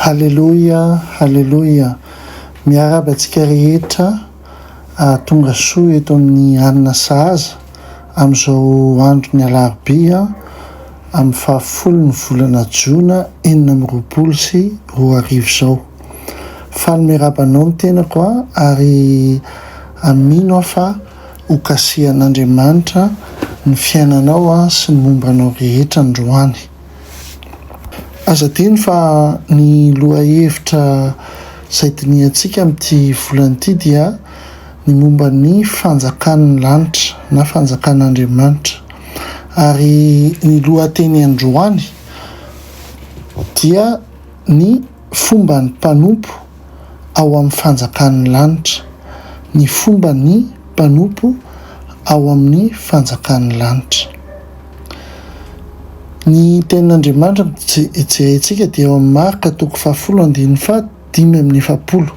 Haleloia haleloia miaraba antsika rehetra ahatonga soa eto amin'ny alina sahaza amin'izao andron'ny alarobia amin'ny fahafolo ny volana jona enina amby roapolo sy roa arivo izao Faly miarahaba anao ny tenako a! ary amino aho fa ho kasihan'Andriamanitra ny fiainanao a! sy ny momba anao rehetra androany. Aza adino fa ny lohahevitra izay dinihantsika amin'ity volana ity dia ny momba ny fanjakan'ny lanitra na fanjakan'Andriamanitra ary ny lohateny androany dia ny fomba ny mpanompo ao amin'ny fanjakan'ny lanitra, ny fomba ny mpanompo ao amin'ny fanjakan'ny lanitra. Ny tenin'Andriamanitra jerentsika dia ao amin'ny Marka toko fahafolo andininy faha dimy amby efapolo,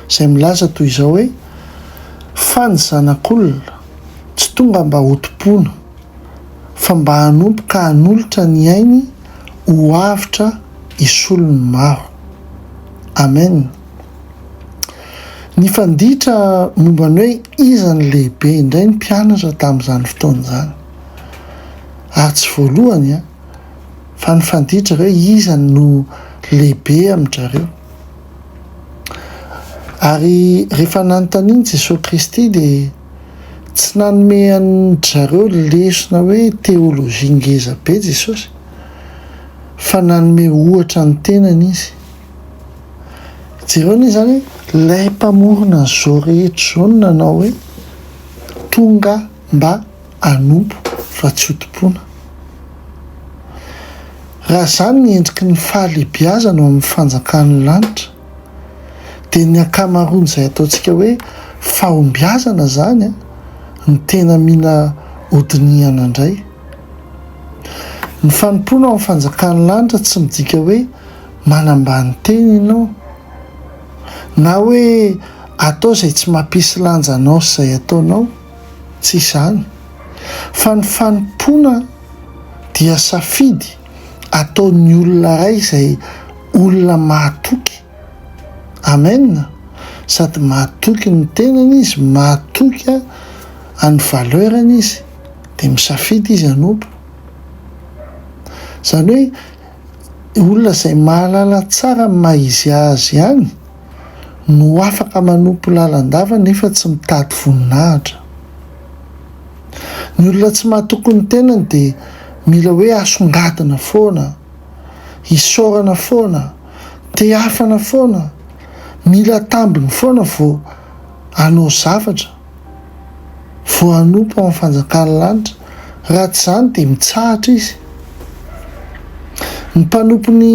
izay milaza toy izao hoe, Fa ny Zanak'olona tsy tonga mba hotompoina, fa mba hanompo ka hanolotra ny ainy ho avotra hisolo ny maro. Amen. Nifanditra momba ny hoe iza no lehibe indray ny mpianatra tamin'izany fotoana izany. Ary tsy voalohany an, fa nifanditra hoe iza no lehibe amin-drareo. Ary rehefa nanontanian'i Jesoa Kristy dia. Tsy nanome an-dry zareo lesona hoe teolojia ngeza be Jesosy, fa nanome ohatra ny tenany Izy. Jereo anie izany hoe ilay Mpamorona an'izao rehetra izao no nanao hoe, Tonga mba hanompo fa tsy hotompoina. Raha izany ny endriky ny fahalehibiazana ao amin'ny fanjakan'ny lanitra, dia ny ankamaroan'izay ataontsika hoe fahombiazana izany no tena mila hodinihana indray. Ny fanompoana ao amin'ny fanjakan'ny lanitra tsy midika hoe manambany tena ianao, na hoe atao izay tsy mampisy lanja anao sy izay ataonao, tsy izany, fa ny fanompoana dia safidy, ataon'ny olona iray izay olona mahatoky. Amen! Sady mahatoky ny tenany izy, mahatoky an'ny valeur-ny izy, dia misafidy izy hanompo. Izany hoe olona izay mahalala tsara ny maha-izy azy ihany. no afaka manompo lalandava nefa tsy mitady voninahitra. Ny olona tsy mahatoky ny tenany dia mila hoe asongadina foana, isaorana foana, tehafana foana, mila tambiny foana vao hanao zavatra. voanompo amin'ny fanjakan'ny lanitra, raha tsy izany dia mitsahatra izy. Ny mpanompo ny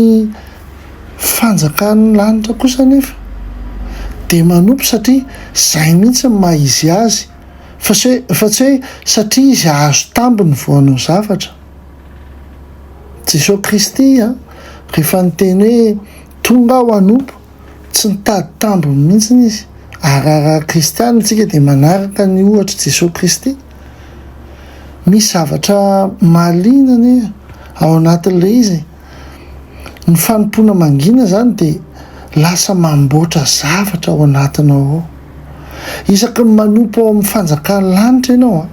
fanjakan'ny lanitra kosa anefa dia manompo satria izay mihitsy ny maha izy azy, fa tsy hoe fa tsy hoe satria izy hahazo tambiny vao hanao zavatra. Jesoa Kristy rehefa niteny hoe tonga aho hanompo, Tsy nitady tambiny mihitsy izy. Ary raha kristiana isika dia manaraka ny ohatr'i Jesoa Kristy. Misy zavatra mahaliana anie ao anatin'ilay izy e! Ny fanompoana mangina izany dia lasa mamboatra zavatra ao anatinao ao. Isaky ny manompo ao amin'ny fanjakan'ny lanitra ianao,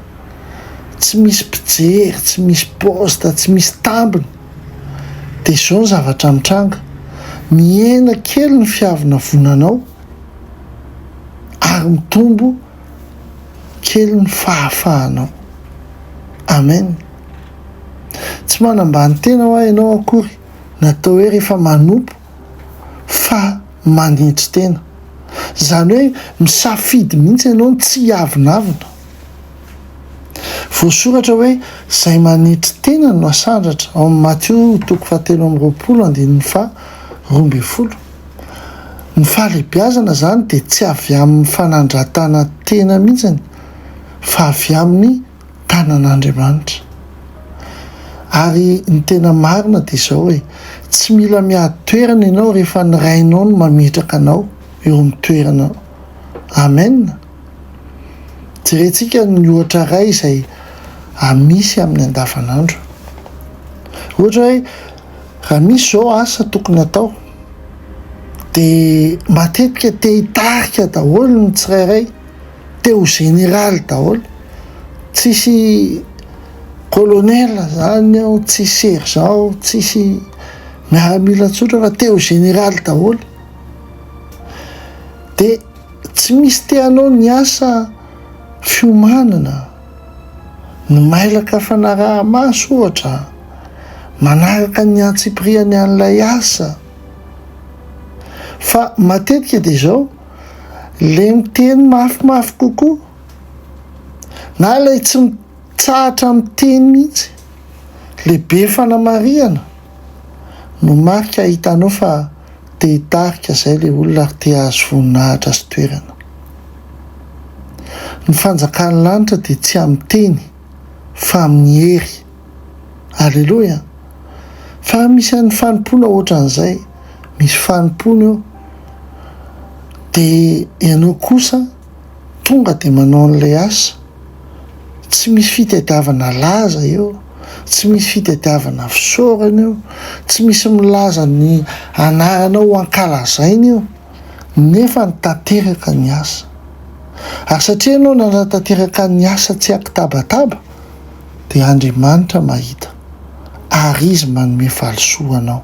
tsy misy mpijery, tsy misy poste, tsy misy tambiny. Dia izao ny zavatra mitranga, mihena kely ny fiavonavonanao ary mitombo kely ny fahafahanao. Amen. Tsy manambany tena hoa ianao akory, natao hoe rehefa manompo fa manetry tena. Izany hoe misafidy mihitsy ianao ny tsy hiavonavona. Voasoratra hoe izay manetry tena no hasandratra ao amin'ny Matio toko fahatelo amby roapolo andininy faha roa ambin'ny folo. Ny fahalehibiazana izany dia tsy avy amin'ny fanandratana tena mihitsy fa avy amin'ny. tanan'Andriamanitra. Ary ny tena marina dia izao e, tsy mila miady toerana ianao rehefa ny Rainao no mametraka anao eo amin'ny toeranao. Amen! Jerentsika ny ohatra iray izay amisy amin'ny andavanandro. Ohatra hoe raha misy izao asa tokony atao dia matetika te hitarika daholo ny tsirairay. te ho général daholo, tsisy colonel zany ao, tsisy sergent ao, tsisy miaramila tsotra fa te ho général daholo, de tsy misy te hanao ny asa fiomanana, ny mailaka fanaraha-maso ohatra, manaraka ny antsipiriany an'ilay asa, fa matetika dia zao, ilay miteny mafimafy kokoa na ilay tsy mitsahatra miteny mihitsy, ilay be fanamarihana no marika ahitanao fa te hitarika izay ilay olona ary te hahazo voninahitra sy toerana. Ny fanjakan'ny lanitra dia tsy amin'ny teny fa amin'ny hery. Aleloia! Fa misy an'ny fanompoana ohatran'izay, misy fanompoana eo, dia ianao kosa tonga dia manao an'ilay asa. Tsy misy fitadiavana laza eo, tsy misy fitadiavana fisaorana eo, tsy misy milaza ny anaranao ho ankalazaina eo, nefa ny tanteraka ny asa. Ary satria ianao nanatanteraka ny asa tsy an-kitabataba, dia Andriamanitra mahita ary Izy manome valisoa anao.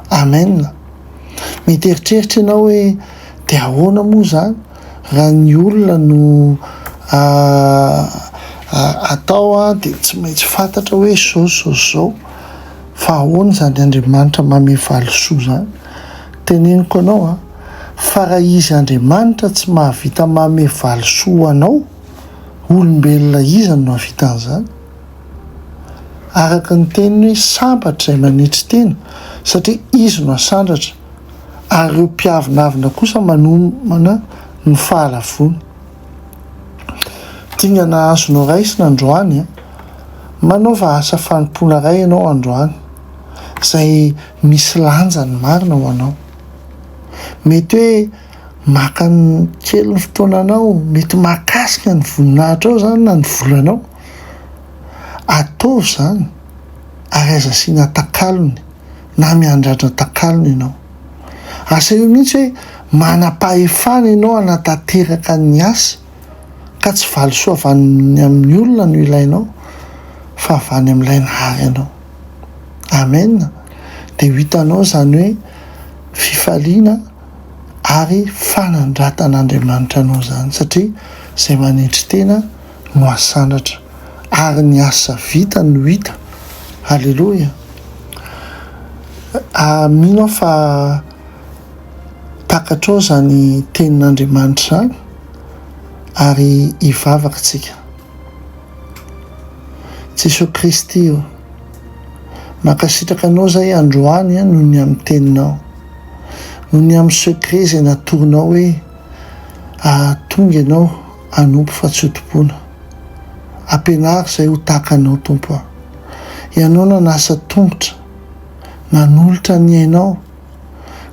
Amen! Mety eritreritra ianao hoe, Dia ahoana moa izany raha ny olona no atao dia tsy maintsy fantatra hoe izao sy izao sy izao? Fa ahoana izany Andriamanitra manome valisoa izany? Teneniko anao fa raha Izy Andriamanitra tsy mahavita manome valisoa anao, Olombelona iza no nahavita an'izany? Araka ny teniny hoe sambatra izay manetry tena satria izy no asandratra ary ireo mpiavonavona kosa manomana ny fahalavoany. Dingana azonao raisina androany an! Manaova asa fanompoana iray ianao androany izay misy lanjany marina ho anao. Mety hoe maka kely ny fotoananao, mety mahakasika ny voninahitrao izany na ny volanao, ataovy izany ary aza asiana takalony na miandrandra takalony ianao. Asaiho mihitsy hoe manam-pahefana ianao hanatanteraka ny asa ka tsy valisoa avy any amin'ny olona no ilainao fa avy any amin'ilay Nahary anao. Amen! Dia ho hitanao izany hoe fifaliana. ary fanandratan'Andriamanitra anao izany satria izay manetry tena no asandratra ary ny asa vita no hita. Aleloia. Mino aho fa takatrao izany tenin'Andriamanitra izany ary hivavaka isika. Jesoa Kristy o, mankasitraka Anao izay androany noho ny amin'ny teninao. Noho ny amin'ny secret izay natoronao hoe hahatonga ianao hanompo fa tsy ho tompoina. Ampianaro izay ho tahaka anao Tompo a. Ianao nanasa tongotra, nanolotra ny ainao,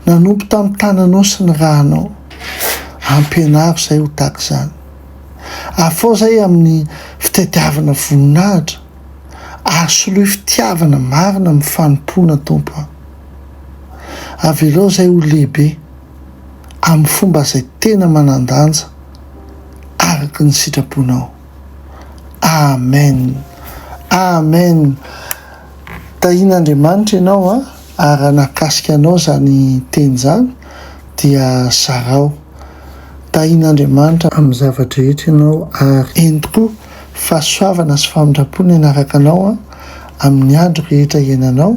nanompo tamin'ny tananao sy ny ranao. Ampianaro izay ho tahaka izany. Afao izay amin'ny fitadiavana voninahitra ary soloy fitiavana marina amin'ny fanompoana Tompo a. Avelao izay ho lehibe amin'ny fomba izay tena manan-danja araka ny sitraponao. Amen! Amen! Tahian'Andriamanitra ianao an! Ary raha nahakasika anao izany teny izany dia zarao. Tahian'Andriamanitra amin'ny zava-drehetra ianao ary. Eny tokoa, fahasoavana sy famindram-po ny hanaraka anao amin'ny andro rehetra iainanao.